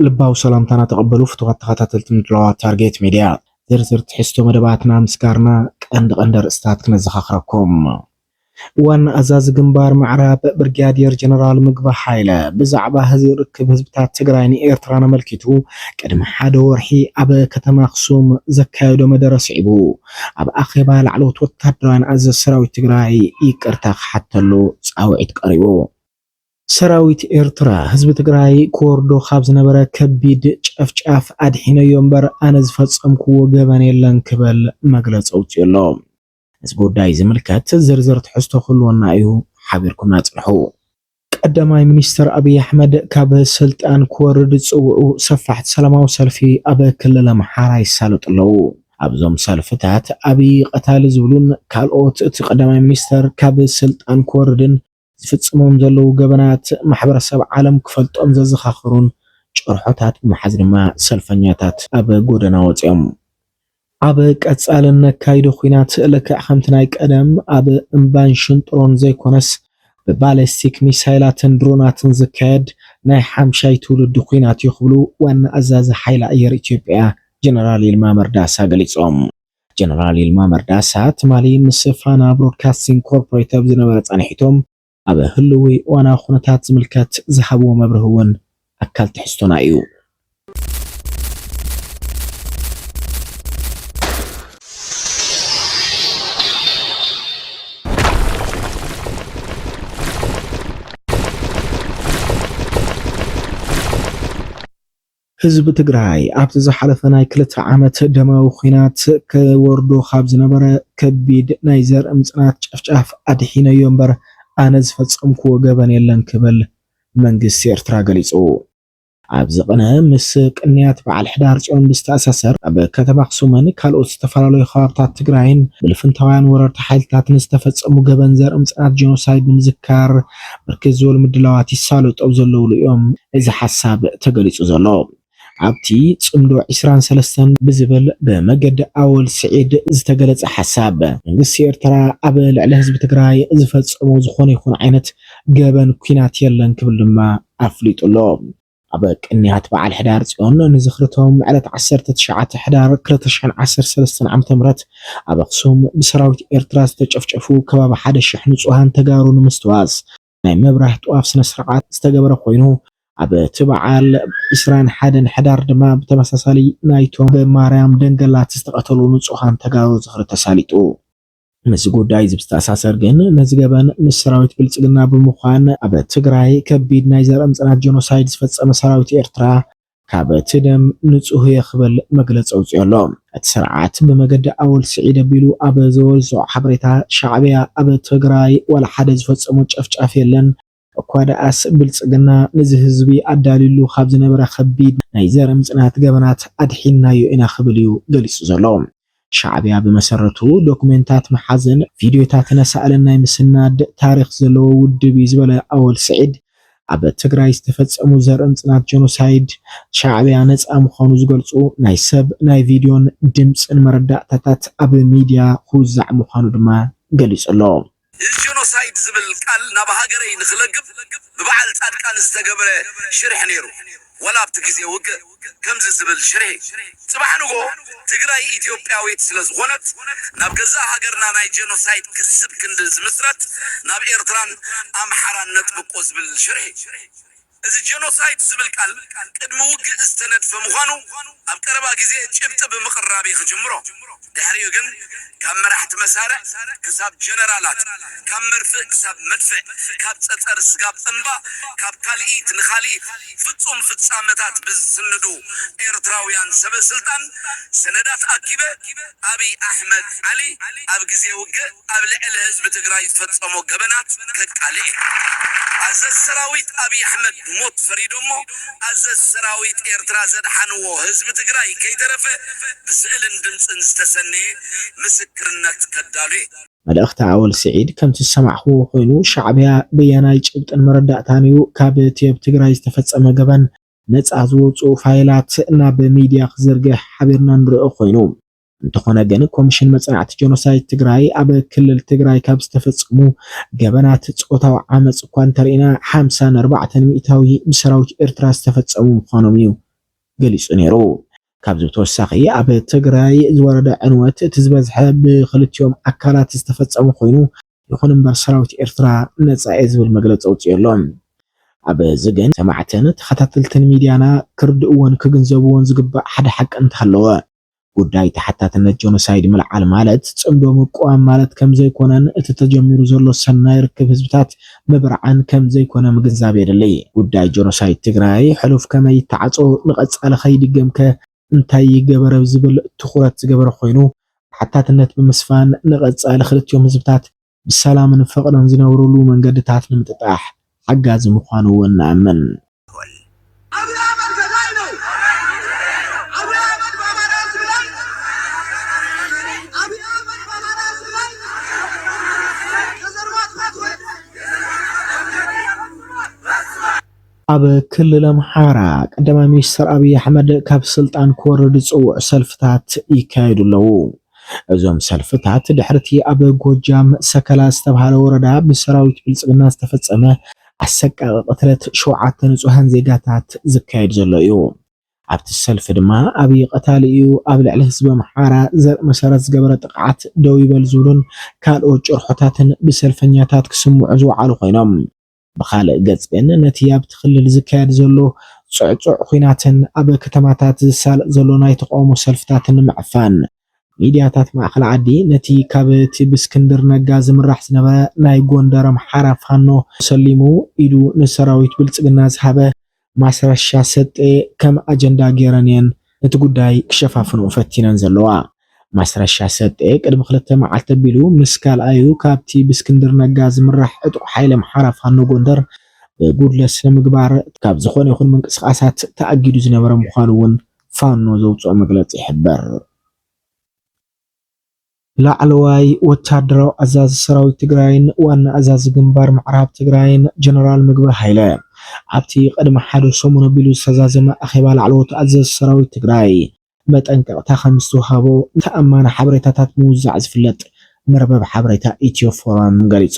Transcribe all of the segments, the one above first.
ልባዊ ሰላምታና ተቐበሉ ፍቱዋት ተኸታተልቲ ምድላዋት ታርጌት ሚድያ። ዝርዝር ትሕዝቶ መደባትና ምስጋርና ቀንዲ ቀንዲ ኣርእስታት ክነዘኻኽረኩም። ዋና ኣዛዚ ግንባር ምዕራብ ብርግያዴር ጀነራል ምግበ ሃይለ ብዛዕባ ህዚ ርክብ ህዝብታት ትግራይን ኤርትራን ኣመልኪቱ ቅድሚ ሓደ ወርሒ ኣብ ከተማ ኣኽሱም ዘካየዶ መደረ ስዒቡ ኣብ ኣኼባ ላዕለዎት ወታደራውያን ኣዘዝቲ ሰራዊት ትግራይ ይቅርታ ክሓተሉ ጻውዒት ቀሪቡ። ሰራዊት ኤርትራ ህዝቢ ትግራይ ክወርዶ ካብ ዝነበረ ከቢድ ጨፍጫፍ ኣድሒነዮ እምበር ኣነ ዝፈጸምክዎ ገበን የለን ክበል መግለጺ ኣውጺኡ ኣሎ። ነዚ ጉዳይ ዝምልከት ዝርዝር ትሕዝቶ ክህልወና እዩ፣ ሓቢርኩምና ጽንሑ። ቀዳማይ ሚኒስተር ኣብይ ኣሕመድ ካብ ስልጣን ክወርድ ዝጽውዑ ሰፋሕቲ ሰላማዊ ሰልፊ ኣብ ክልል ኣምሓራ ይሳለጡ ኣለዉ። ኣብዞም ሰልፍታት ኣብይ ቐታሊ ዝብሉን ካልኦት እቲ ቀዳማይ ሚኒስተር ካብ ስልጣን ክወርድን፣ ዝፍጽሞም ዘለዉ ገበናት ማሕበረሰብ ዓለም ክፈልጦም ዘዘኻኽሩን ጭርሖታት ብምሓዝ ድማ ሰልፈኛታት ኣብ ጎደና ወጺኦም ኣብ ቀጻሊ እነካይዶ ኲናት ልክዕ ከምቲ ናይ ቀደም ኣብ እምባን ሽንጥሮን ዘይኮነስ ብባሊስቲክ ሚሳይላትን ድሮናትን ዝካየድ ናይ ሓምሻይ ትውልዲ ኲናት'ዩ ክብሉ ዋና ኣዛዚ ሓይሊ ኣየር ኢትዮጵያ ጀነራል ይልማ መርዳሳ ገሊጾም። ጀነራል ይልማ መርዳሳ ትማሊ ምስ ፋና ብሮድካስቲንግ ኮርፖሬት ኣብ ዝነበረ ፃንሒቱ ኣብ ህልዊ እዋናዊ ኩነታት ዝምልከት ዝሃብዎ መብርሂ እውን ኣካል ትሕዝቶና እዩ። ህዝቢ ትግራይ ኣብቲ ዝሓለፈ ናይ ክልተ ዓመት ደማዊ ኹናት ክወርዶ ካብ ዝነበረ ከቢድ ናይ ዘርኢ ምፅናት ጨፍጫፍ ኣድሒነዮ እምበር ኣነ ዝፈፀምክዎ ገበን የለን ክብል መንግስቲ ኤርትራ ገሊፁ። ኣብዚ ቕነ ምስ ቅንያት በዓል ሕዳር ፅዮን ብዝተኣሳሰር ኣብ ከተማ ኣኽሱምን ካልኦት ዝተፈላለዩ ከባብታት ትግራይን ብልፍንታውያን ወረርቲ ሓይልታትን ዝተፈፀሙ ገበን ዘርኢ ምፅናት ጀኖሳይድ ንምዝካር ብርክት ዝበሉ ምድላዋት ይሳለጡ ኣብ ዘለዉሉ እዮም እዚ ሓሳብ ተገሊፁ ዘሎ። ኣብቲ ፅምዶ ዕስራን ሰለስተን ብዝብል ብመገዲ ኣወል ስዒድ ዝተገለፀ ሓሳብ፣ መንግስቲ ኤርትራ ኣብ ልዕሊ ህዝቢ ትግራይ ዝፈፀሞ ዝኾነ ይኹን ዓይነት ገበን ኲናት የለን ክብል ድማ ኣፍሊጡ ኣሎ። ኣብ ቅንያት በዓል ሕዳር ፅዮን ንዝኽሪ'ቶም ዕለት ዓሰርተ ትሽዓተ ሕዳር ክልተ ሽሕን ዓሰርተ ሰለስተን ዓመተ ምህረት ኣብ ኣኽሱም ብሰራዊት ኤርትራ ዝተጨፍጨፉ ከባቢ ሓደ ሽሕ ንፁሃን ተጋሩ ንምስትዋስ ናይ ምብራህ ጥዋፍ ስነስርዓት ዝተገበረ ኮይኑ ኣብ'ቲ በዓል ዕስራን ሓደን ሕዳር ድማ ብተመሳሳሊ ናይ'ቶም ብማርያም ደንገላት ዝተቐተሉ ንፁሃን ተጋሩ ዝኽሪ ተሳሊጡ ምስ ጉዳይ እዚ ብዝተኣሳሰር ግን ነዚ ገበን ምስ ሰራዊት ብልጽግና ብምዃን ኣብ ትግራይ ከቢድ ናይ ዘርኢ ምጽናት ጀኖሳይድ ዝፈጸመ ሰራዊት ኤርትራ ካብ'ቲ ደም ንጹህ'የ ክብል መግለጺ ኣውጺኡ ኣሎ። እቲ ስርዓት ብመገዲ ኣወል ስዒድ ኣቢሉ ኣብ ዘወዝዖ ሓበሬታ ሻዕብያ ኣብ ትግራይ ዋላ ሓደ ዝፈጸሞ ጨፍጫፍ የለን፣ እኳ ደኣስ ብልጽግና ነዚ ህዝቢ ኣዳልዩሉ ካብ ዝነበረ ከቢድ ናይ ዘር ምጽናት ገበናት ኣድሒንናዮ ኢና ክብል እዩ ገሊጹ ዘሎ። ሻዕብያ ብመሰረቱ ዶክሜንታት ምሓዝን ቪድዮታት ነሳእልን ናይ ምስናድ ታሪኽ ዘለዎ ውድብ እዩ ዝበለ ኣወል ስዒድ፣ ኣብ ትግራይ ዝተፈጸሙ ዘር ምጽናት ጀኖሳይድ ሻዕብያ ነጻ ምዃኑ ዝገልጹ ናይ ሰብ ናይ ቪድዮን ድምጽን መረዳእታታት ኣብ ሚድያ ክውዛዕ ምዃኑ ድማ ገሊጹ ኣሎ። ጀኖሳይድ ዝብል ቃል ናብ ሃገረይ ንክለግብ ብበዓል ጻድቃን ዝተገብረ ሽርሒ ነይሩ ዋላ ኣብቲ ግዜ ውግእ ከምዚ ዝብል ሽርሒ ጽባሕ ንግሆ ትግራይ ኢትዮጵያዊት ስለ ዝኮነት ናብ ገዛእ ሃገርና ናይ ጀኖሳይድ ክስብ ክንዲ ዝምስረት ናብ ኤርትራን ኣምሓራን ነጥብቆ ዝብል ሽርሒ እዚ ጀኖሳይድ ዝብል ቃል ቅድሚ ውግእ ዝተነድፈ ምዃኑ ኣብ ቀረባ ግዜ ጭብጢ ብምቕራብ'የ ክጅምሮ። ድሕሪኡ ግን ካብ መራሕቲ መሳርዕ ክሳብ ጀነራላት፣ ካብ መርፍእ ክሳብ መድፍዕ፣ ካብ ጸጸር ስጋብ እምባ፣ ካብ ካልኢት ንካልኢት ፍጹም ፍጻመታት ብዝስንዱ ኤርትራውያን ሰበስልጣን ሰነዳት ኣኪበ፣ ኣብይ ኣሕመድ ዓሊ ኣብ ግዜ ውግእ ኣብ ልዕሊ ህዝቢ ትግራይ ዝፈፀሞ ገበናት ከቃልዕ እዩ። ኣዘዚ ሰራዊት ኣብይ ኣሕመድ ሞት ፈሪዶሞ ኣዘዚ ሰራዊት ኤርትራ ዘድሓንዎ ህዝቢ ትግራይ ከይተረፈ ብስእልን ድምፅን ዝተሰነየ ምስክርነት ከዳሉ እየ። መልእኽቲ ኣወል ስዒድ ከምቲ ዝሰማዕኹዎ ኮይኑ ሻዕቢያ በያናይ ጭብጥን መረዳእታን እዩ ካብቲ ኣብ ትግራይ ዝተፈፀመ ገበን ነጻ ዝወጽኡ ፋይላት ናብ ሚድያ ክዝርግሕ ሓቢርና ንርኦ ኮይኑ እንተኾነ ግን ኮምሽን መጽናዕቲ ጀኖሳይድ ትግራይ ኣብ ክልል ትግራይ ካብ ዝተፈጸሙ ገበናት ጾታዊ ዓመጽ እኳ እንተርኢና ሓምሳን ኣርባዕተን ሚእታዊ ብሰራዊት ኤርትራ ዝተፈጸሙ ምዃኖም እዩ ገሊጹ ነይሩ። ካብዚ ብተወሳኺ ኣብ ትግራይ ዝወረደ ዕንወት እቲ ዝበዝሐ ብኽልቲኦም ኣካላት ዝተፈጸመ ኮይኑ፣ ይኹን እምበር ሰራዊት ኤርትራ ነጻ'የ ዝብል መግለጺ ኣውጺኡ ኣሎ። ኣብ እዚ ግን ሰማዕትን ተኸታተልትን ሚድያና ክርድእዎን ክግንዘብዎን ዝግባእ ሓደ ሓቂ እንተሃለወ፣ ጉዳይ ተሓታትነት ጆኖሳይድ ምልዓል ማለት ጽምዶ ምቅዋም ማለት ከምዘይኮነን እቲ ተጀሚሩ ዘሎ ሰናይ ርክብ ህዝብታት ምብርዓን ከምዘይኮነ ምግንዛብ የድሊ። ጉዳይ ጆኖሳይድ ትግራይ ሕሉፍ ከመይ ይተዓጾ ንቀጻሊ ከይድገም ከ፣ እንታይ ይገበር ኣብ ዝብል ትኹረት ዝገበረ ኮይኑ፣ ተሓታትነት ብምስፋን ንቐፃሊ ክልቲኦም ህዝብታት ብሰላምን ፍቕርን ዝነብሩሉ መንገድታት ንምጥጣሕ ሓጋዚ ምዃኑ እውን ንኣምን። ኣቢይ ኣሕመድ ገዳይ ነው ኣቢይ ኣሕመድ በኣማራ ህዝብ ላይ ኣቢይ ኣሕመድ በኣማራ ህዝብ ላይ ከዘር ማጥፋት ወይም ኣብ ክልል ኣምሓራ ቀዳማይ ሚኒስተር ኣብዪ ኣሕመድ ካብ ስልጣን ክወርድ ዝጽውዑ ሰልፍታት ይካየዱ ኣለዉ። እዞም ሰልፍታት ድሕሪ'ቲ ኣብ ጎጃም ሰከላ ዝተብሃለ ወረዳ ብሰራዊት ብልጽግና ዝተፈጸመ ኣሰቃቒ ቅትለት ሸውዓተ ንጹሃን ዜጋታት ዝካየድ ዘሎ እዩ። ኣብቲ ሰልፊ ድማ ኣብዪ ቀታሊ እዩ፣ ኣብ ልዕሊ ህዝቢ ኣምሓራ ዘርኢ መሰረት ዝገበረ ጥቕዓት ደው ይበል ዝብሉን ካልኦት ጭርሖታትን ብሰልፈኛታት ክስምዑ ዝወዓሉ ኮይኖም፣ ብኻልእ ገፅ ግን ነቲ ኣብቲ ክልል ዝካየድ ዘሎ ፅዕፁዕ ኹናትን ኣብ ከተማታት ዝሳለጥ ዘሎ ናይ ተቓውሞ ሰልፍታትን ንምዕፋን ሚድያታት ማእኸል ዓዲ ነቲ ካብ እቲ ብእስክንድር ነጋ ዝምራሕ ዝነበረ ናይ ጎንደር ኣምሓራ ፋኖ ሰሊሙ ኢዱ ንሰራዊት ብልፅግና ዝሃበ ማስረሻ ሰጤ ከም ኣጀንዳ ገይረን እየን ነቲ ጉዳይ ክሸፋፍንኦ ፈቲነን ዘለዋ። ማስረሻ ሰጤ ቅድሚ ክልተ መዓልቲ ኣቢሉ ምስ ካልኣዩ ካብቲ ብእስክንድር ነጋ ዝምራሕ ዕጡቕ ሓይሊ ኣምሓራ ፋኖ ጎንደር ብጉድለት ስነምግባር ካብ ዝኾነ ይኹን ምንቅስቓሳት ተኣጊዱ ዝነበረ ምዃኑ እውን ፋኖ ዘውፅኦ መግለፂ ይሕብር። ላዕለዋይ ወታደራዊ ኣዛዚ ሰራዊት ትግራይን ዋና ኣዛዚ ግንባር ምዕራብ ትግራይን ጀነራል ምግበይ ሃይለ ኣብቲ ቅድሚ ሓደ ሰሙን ኣቢሉ ዝተዛዘመ ኣኼባ ላዕለዎት ኣዘዝቲ ሰራዊት ትግራይ መጠንቀቕታ ከምዝተውሃቦ ተኣማኒ ሓበሬታታት ምውዛዕ ዝፍለጥ መርበብ ሓበሬታ ኢትዮ ፎረም ገሊፁ።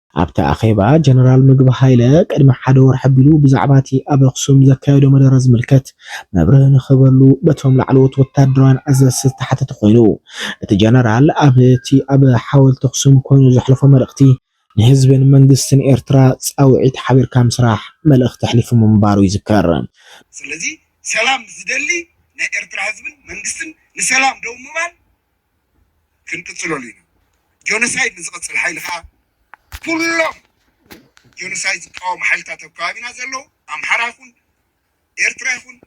ኣብቲ ኣኼባ ጀነራል ምግብ ሃይለ ቅድሚ ሓደ ወርሒ ኣቢሉ ብዛዕባቲ ኣብ ኣኽሱም ዘካየዶ መደረ ዝምልከት መብርሂ ንክህበሉ በቶም ላዕለዎት ወታደራውያን ኣዘዝቲ ዝተሓተተ ኮይኑ እቲ ጀነራል ኣብቲ ኣብ ሓወልቲ ኣኽሱም ኮይኑ ዘሕለፎ መልእኽቲ ንህዝብን መንግስትን ኤርትራ ጻውዒት ሓቢርካ ምስራሕ መልእኽቲ ኣሕሊፉ ምንባሩ ይዝከር። ስለዚ ሰላም ዝደሊ ናይ ኤርትራ ህዝብን መንግስትን ንሰላም ደው ምባል፣ ክንቅጽለሉ ኢና። ጆኖሳይድ ንዝቕጽል ሓይሊ ከኣ ኩሎም ጆኖሳይድ ዝቃወሙ ሓይልታት ኣብ ከባቢና ዘለዉ ኣምሓራ ይኹን ኤርትራ ይኹን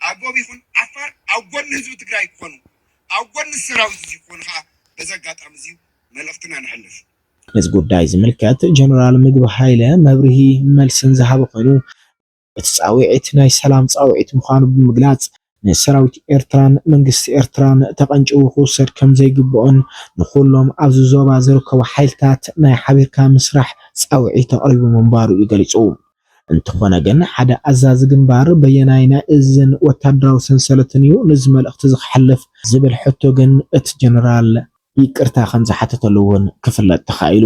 ኣጎብ ይኹን ዓፋር ኣብ ጎኒ ህዝቢ ትግራይ ክኾኑ ኣብ ጎኒ እዚ ሰራዊት እዚ ክኾኑ ከኣ በዚ ኣጋጣሚ እዚ መልእኽትና ነሕልፍ። ነዚ ጉዳይ ዝምልከት ጀነራል ምግብ ሃይለ መብርሂ መልስን ዝሃበ ኮይኑ፣ እቲ ጻውዒት ናይ ሰላም ጻውዒት ምዃኑ ብምግላጽ፣ ንሰራዊት ኤርትራን መንግስቲ ኤርትራን ተቐንጭቡ ክውሰድ ከምዘይግብኦን ንኹሎም ኣብዚ ዞባ ዝርከቡ ሓይልታት ናይ ሓቢርካ ምስራሕ ጻውዒት ኣቕሪቡ ምንባሩ'ዩ ገሊጹ። እንተኾነ ግን ሓደ ኣዛዚ ግንባር በየናይ ናይ እዝን ወታደራዊ ሰንሰለትን'ዩ ነዚ መልእኽቲ'ዚ ክሓልፍ ዝብል ሕቶ ግን እቲ ጀነራል ይቅርታ ከምዝሓተተሉ'ውን ክፍለጥ ተኻኢሉ።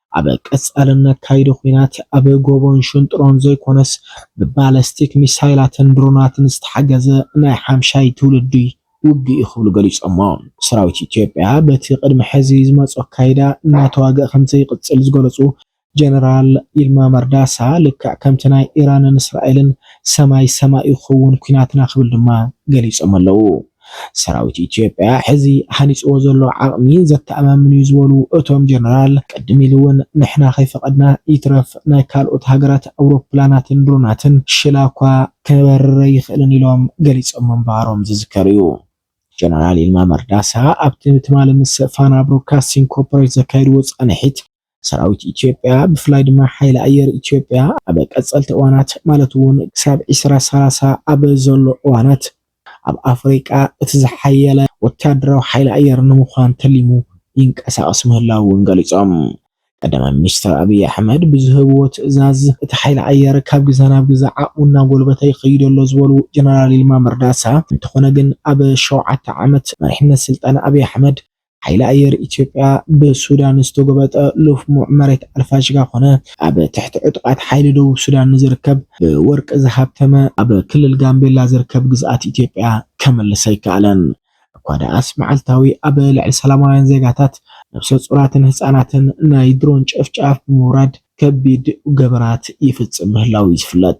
ኣብ ቀጻሊ እነካይዶ ኲናት ኣብ ጎቦን ሽንጥሮን ዘይኮነስ ብባለስቲክ ሚሳይላትን ድሮናትን ዝተሓገዘ ናይ ሓምሻይ ትውልዲ ውግእ'ዩ ክብሉ ገሊጾሞ። ሰራዊት ኢትዮጵያ በቲ ቅድሚ ሕዚ ዝመጾ ኣካይዳ እናተዋግኣ ከምዘይቅጽል ዝገለጹ ጀነራል ይልማ መርዳሳ ልክዕ ከምቲ ናይ ኢራንን እስራኤልን ሰማይ ሰማይ'ዩ ክኽውን ኲናትና ክብል ድማ ገሊጾም ኣለው። ሰራዊት ኢትዮጵያ ሕዚ ሃኒፅዎ ዘሎ ዓቕሚ ዘተኣማምን ዩ ዝበሉ እቶም ጀነራል፣ ቅድም ኢሉ ውን ንሕና ከይፈቐድና ይትረፍ ናይ ካልኦት ሃገራት ኣውሮፕላናትን ድሮናትን ሽላ እኳ ክበርር ኣይኽእልን ኢሎም ገሊፆም ምንባሮም ዝዝከር ዩ። ጀነራል ይልማ መርዳሳ ኣብቲ ትማሊ ምስ ፋና ብሮድካስቲንግ ኮርፖሬት ዘካየድዎ ፃንሒት፣ ሰራዊት ኢትዮጵያ ብፍላይ ድማ ሓይሊ ኣየር ኢትዮጵያ ኣብ ቀፀልቲ እዋናት ማለት እውን ክሳብ ዕስራ ሰላሳ ኣብ ዘሎ እዋናት ኣብ ኣፍሪቃ እቲ ዝሓየለ ወታደራዊ ሓይሊ ኣየር ንምዃን ተሊሙ ይንቀሳቐስ ምህላዉ እውን ገሊፆም። ቀዳማይ ሚኒስትር ኣብይ ኣሕመድ ብዝህብዎ ትእዛዝ እቲ ሓይሊ ኣየር ካብ ግዘ ናብ ግዘ ዓቕሙ እናጎልበተ ይኸይድ ኣሎ ዝበሉ ጀነራል ይልማ መርዳሳ እንተኾነ ግን ኣብ ሸውዓተ ዓመት መሪሕነት ስልጣን ኣብይ ኣሕመድ ሓይሊ ኣየር ኢትዮጵያ ብሱዳን ዝተጎበጠ ልፍሙዕ መሬት ኣልፋሽጋ ኮነ ኣብ ትሕቲ ዕጡቓት ሓይሊ ደቡብ ሱዳን ንዝርከብ ብወርቂ ዝሃብተመ ኣብ ክልል ጋምቤላ ዝርከብ ግዝኣት ኢትዮጵያ ከምልስ ኣይከኣለን። እኳ ደኣስ መዓልታዊ ኣብ ልዕሊ ሰላማውያን ዜጋታት፣ ነብሰ-ጹራትን ህጻናትን ናይ ድሮን ጨፍጫፍ ብምውራድ ከቢድ ገበናት ይፍጽም ምህላዉ'ዩ ዝፍለጥ።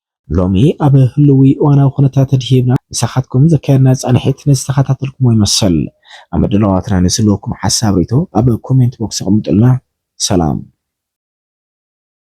ሎሚ ኣብ ህልዊ እዋናዊ ኩነታት ኣድሂብና ምሳኻትኩም ዘካየድና ፃንሒት ንዝተኸታተልኩምዎ ይመስል። ኣብ ምድላዋትና ንዝህልወኩም ሓሳብ ሪኢቶ ኣብ ኮሜንት ቦክስ ኣቕምጡልና። ሰላም።